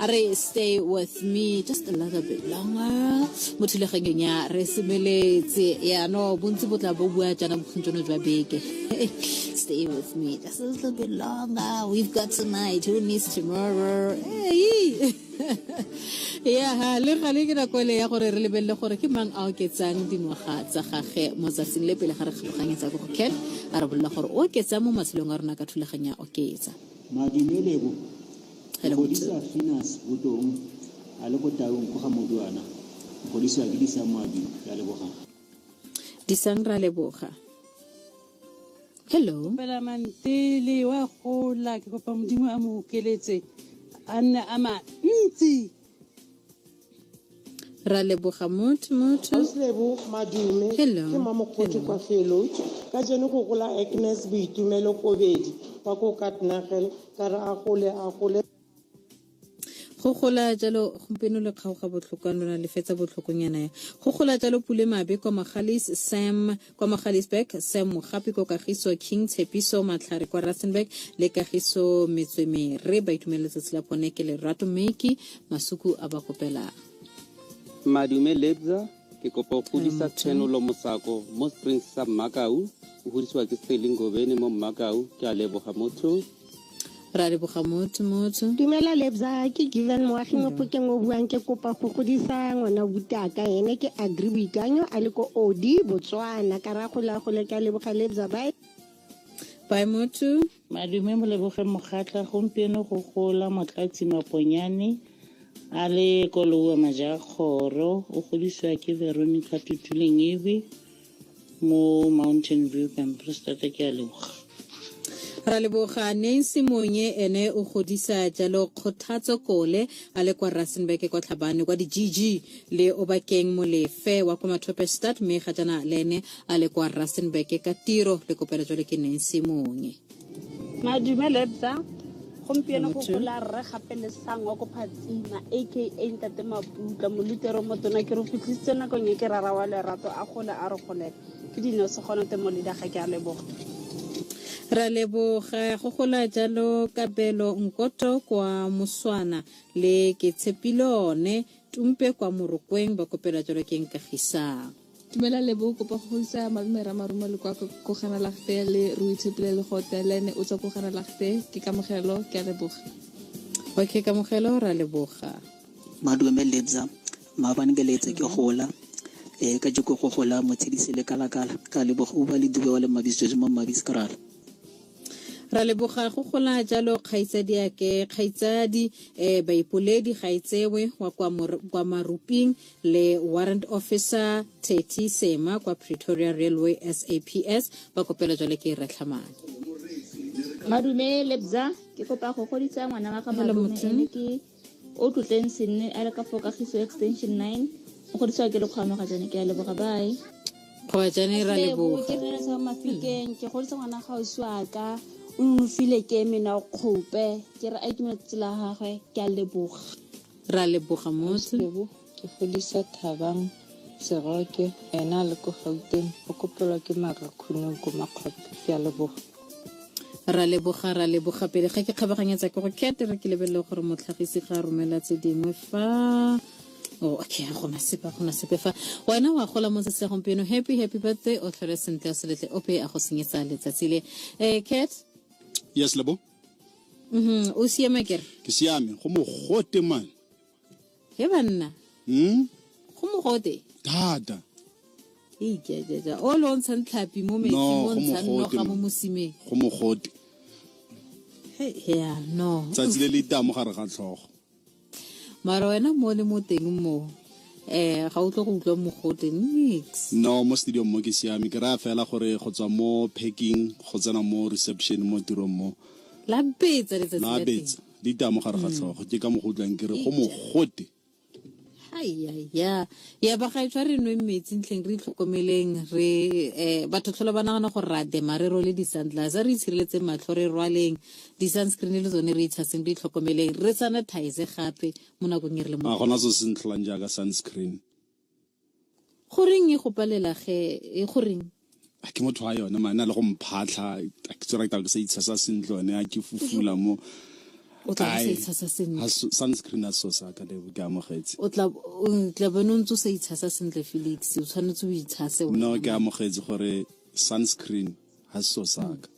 a re stay with me just a little bit longer mo thulaganyong ya re semeletse yaanong bontsi bo tla bo bua jaana bokgong jono jwa beke stay with me just a little bit longer we've got tonight who needs tomorrow hey. ya le gale ke nako ele ya gore re lebelele gore ke mang a oketsang dingwaga tsa gage mo tsatsing le pele ga re kgaboganyetsa ko go ken a re bolola gore o oketsa mo matshelong a rona ka thulaganya oketsa madumele Re go tse- Godisa Finas Botong a le ko Taung ko ga Moduana. Re godisiwa ke Disang Moabi. Re a leboga. disang ra leboga hello fela mantele wa gola ke kopa modimo a mo okeletse a nne a mantsi ra leboga motho motho auslebo madume ke mamokgotho kwa felo ka jeno go gola agnes boitumelo kobedi kwa ko katnagel ka re a gole a gole go gola jalo gompieno le kgaoga botlhokwa lona le fetsa botlhokonyana ya go gola jalo pule mabe kwa magalis sam Kwa Magaliesburg, Sam Mogapi ko Kagiso, King Tshepiso Matlhare kwa Rustenburg le Kagiso Metswemere ba itumelele letsatsi la bone ke lerato mme ke masuku a ba kopelang. Madume Lebza, ke kopa go godisa Tshenolo Mosako mo Springs sa Mmakau. O godisiwa ke Sterling Ngobeni mo Mmakau. Ke a leboga motho. ra leboga motho motho dumela lebza ke given moagi mo phokeng o buang ke kopa go godisa ngwana butaka ene ke agri boikanyo a le ko odi botswana ka ra gola gole ka leboga lebza bae bae motho madume mo lebogeng mogatla gompieno go gola motlatsi maponyane a le koloua majakgoro o godisiwa ke veronica tutuleng ebe mo mountain view campus thata ke a leboga ra leboga nancy monye ene o godisa jalo kgothatso kole a le kwa rustenburg kwa tlhabane kwa di-gg le o bakeng molefe wa kwa mathope start mme ga jana le ene a le kwa rustenburg ka tiro le kopelo jalo ke nancy monye Madume Lebza, gompieno go Motho. gola rre gape le sangwa ko phatsima aka ntate maputla molutero motona ke re fitlhisitse nakong e ke rara wa lerato a gole a re golela ke dino se gona te moleda ga ke a leboga ra leboga go gola jalo kabelo nkoto kwa moswana le ke tshepilone Tumpe kwa Morokweng ba kopela jalo ke Nkagisang. Tumela lebo o kopa go isa malome ra marumo le kwa kogana lagte le re o itshepile le gote le ene o tswa kogana lagte ke kamogelo ke a leboga okay kamogelo ra leboga madume lebza maabane ke letse ke gola e ka jeko go gola motshedise le kalakala ka leboga o ba le dube wa le mabisitswe mo mabiskrala Ra leboga go gola jalo kgaitsadiake kgaitsadi eh baipoledi ga e tsewe wa kwa, kwa maruping le warrant officer theti sema kwa pretoria railway saps ba kopela jalo ke e retlhamane madume lebza ke kopa go godisa ngwana wa ga madume ke o tlotleng senne a le ka fo kagiso extension 9 o godisiwa ke lekgwamo ga jane ke a leboga bae kgoba jane ra leboga ke rere sa mafikeng ke godisa ngwana ga o swaka o nonofile ke mena o kgope ke re a itumetse tsela gagwe ke a leboga ra leboga motse ke godisa thabang seroke ena a le ko gauteng o kopelwa ke marakhuno ko makgope ke a leboga ra leboga ra leboga pele ga ke kgabaganyetsa ke go kete re ke lebelele gore motlhagisi ga a romela tse dingwe fa Oh, okay ga gona sepe gona sepe fa wena wa gola mo tsatsi la gompieno happy happy birthday o tlhole sentle o seletle ope a go senyetsa letsatsi le um cat yes lebo mm-hmm. o siame kere ke siame go mogote mane he banna hmm? go mogote thata eikejaja o le o ntshang tlhapi mo metsing o ntshang noga mo mosimeng go mogote ya no tsatsi le le itamo gare ga tlhogo mara wena mo le mo teng moo eh ga o tlo go utlwa mogote nix no mo stadium mo ke siame ke raya fela gore go tswa mo packing go tsena mo reception mo tirong mo la betsa letsatsi la teng di taya mo gare ga tlhogo ke ka mo go utlwang ke re go mogote ya ya ba ga e tshwa re nwe metsi ntleng re itlhokomeleng re um batho tlholo ba nagana gore ra dema re role di-sandlas re itshireletseng matlho re rwaleng di-sunscreen le tsone re itshaseng re itlhokomeleng re sanitize gape mo nakong e re le mo gona se se ntlholang jaaka sunscreen Go reng e go palela ge e go reng? a ke motho wa yone mane a le go mphatlha a ke tsora ke sa itshasa sentle one a ke fufula mo o tla se itshasa sentle sunscreen a so sa ka le ke amogetse o tla o tla bona ntse sa itshasa sentle Felix o tshwanetse o itshase o no ke amogetse gore sunscreen ha so sa ka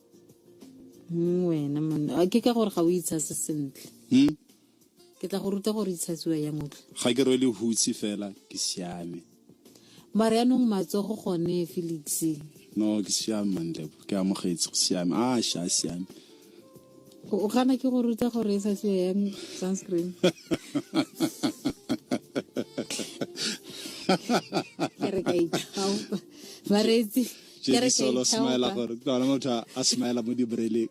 mm, wena monna ke ka gore ga o itshase sentle mm. ke tla go ruta gore itshatsiwa yang o tle ga ke rwele hutsi fela ke siame mare yanong matsogo gone felix no ke siame manlebo ke amogetse go siame a sha a siame o gana ke go ruta gore e sa siwa yang sunscreen ke re ka ithaopa bareetsi ke re ka ithaopa gore ke lona motho a smile mo dibreleng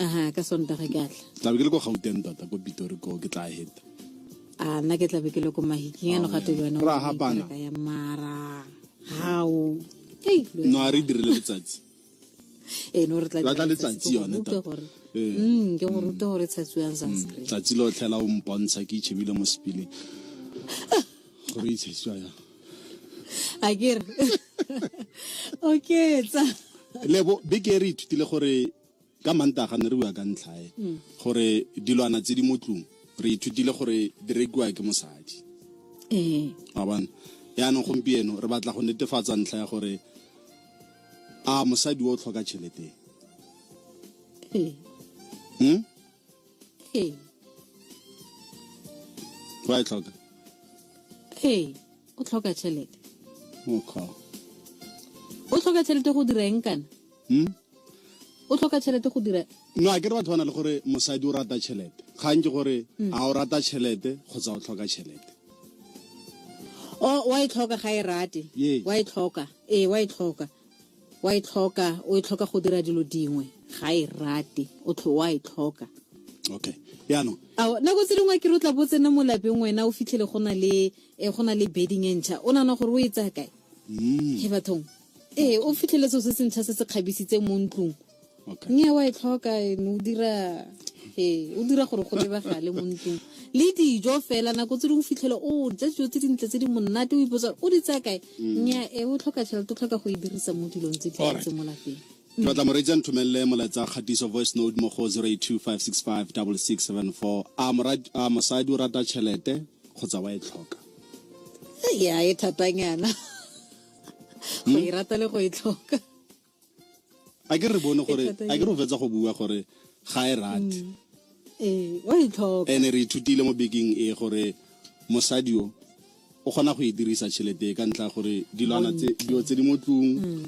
aha ka sontaga ke atla tlabe ke le ko gauteng tota ko pitori ko ke tla heta a nna ke tlabe ke le ko mahiking ano gato yone Ra hapana. ya mara hao Hey, lo- no a re dirile letsatsi eh, no re tla Ra tla dira letsatsi ke go yone ruta tota. gore- Eh. Mm, ke go ruta gore tshatsiwang sunscreen tsatsi lo tlhela o mpontsha ke itšhebile mo sepileng gore itshesiwa yang a kere okay tsa lebo big eri ithutile gore ka manta ga ne re bua ka ntlhae mm. gore dilwana tse di mo tlung re ithutile gore di rekiwa ke mosadi ee a bona yaanong gompieno re batla go netefatsa ntlha ya gore a mosadi o tlhoka tšhelete ee hmm? ee wa e tlhoka ee o tlhoka tšhelete okay o tlhoka tšhelete go dira eng kana hmm? o tlhoka tšhelete go dira no a ke re batho ba na le gore mosadi o rata tšhelete kgang ke gore hmm. a o rata tšhelete kgotsa o tlhoka tšhelete o wa e tlhoka ga e rate wa e tlhoka ee wa e tlhoka Wa e tlhoka, o e tlhoka go dira dilo dingwe. Ga e rate, o tlho wa e tlhoka. Okay. Yaanong. Ao, nako tse dingwe ke re o tla bo tsena mo lapeng wena o fitlhele go na le eh, go na le bedding e ntšha. O nana gore o e tsaya kae? Mm. He bathong. Ee, o fitlhele seo se se ntšha se se kgabisitseng mo ntlong. okay. mme wa e tlhoka ene o dira ee o dira gore go lebagale mo ntlong le dijo fela nako tse dingwe fitlhele o ja dijo tse dintle tse di monate o ipotsa o di tsaya kae mm. nya e o tlhoka tšhelete o tlhoka go e dirisa mo dilong tse dintse mo lapeng ke batla moreetsi a nthomelele molaetsa kgatiso voice note mo go 0825656674 a mosadi o rata tšhelete kgotsa wa e tlhoka ya e thatanyana go e rata le go e tlhoka a ke re bone gore a ke re o fetsa go bua gore ga e rate mm. ee o e tlhoka ene re ithutile mo bekeng e gore mosadi o o kgona go e dirisa tšhelete ka ntla gore dilwana dilo tse di mo tlung um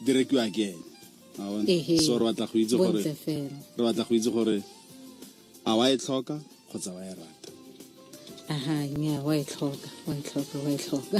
di rekiwa ke ene so re batla go itse gore a wa e tlhoka kgotsa wa e rata aha nya wa e tlhoka wa e tlhoka wa e tlhoka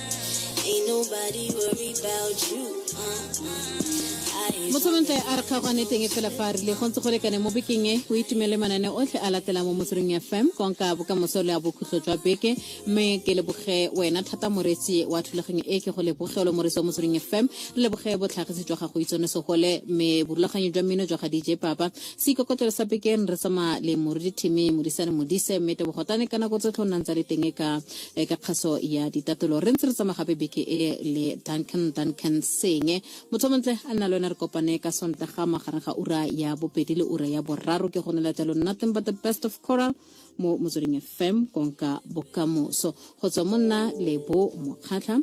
Ain't nobody worried about you. Uh-uh. motsholontle a re kgaogane teng e fela fa a rile go ntse go lekane mo bekeng e o itumele manane otlhe a latela mo motsweding fm konka bokamoso le a bokhutlo jwa beke mme ke leboge wena thata moretsi wa thulaganyo e ke go lebogelo moretsi wa motsweding fm re leboge botlhagisi jwa gago itsone segole mme borulaganyo jwa mmino jwa ga dj papa se ikokotelo sa bekeng re tsamaya le moredi theme modisane modise mme tebogotane ka nako tsotlhe o nnang tsa le teng e ka e ka kgaso ya ditatolo re ntse re tsamaya gape beke e le duncan duncan senge motho montle a nna le wena re kopane ka sontaga magareng ga ura ya bobedi le ura ya boraro ke gonela jalo nothing but the best of coral mo motsweding fm konka bokamoso go tswa mo nna lebo mokgatlha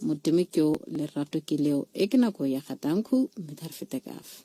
modimo ke o lerato ke leo e ke nako ya gatanku mme ga re fete kafa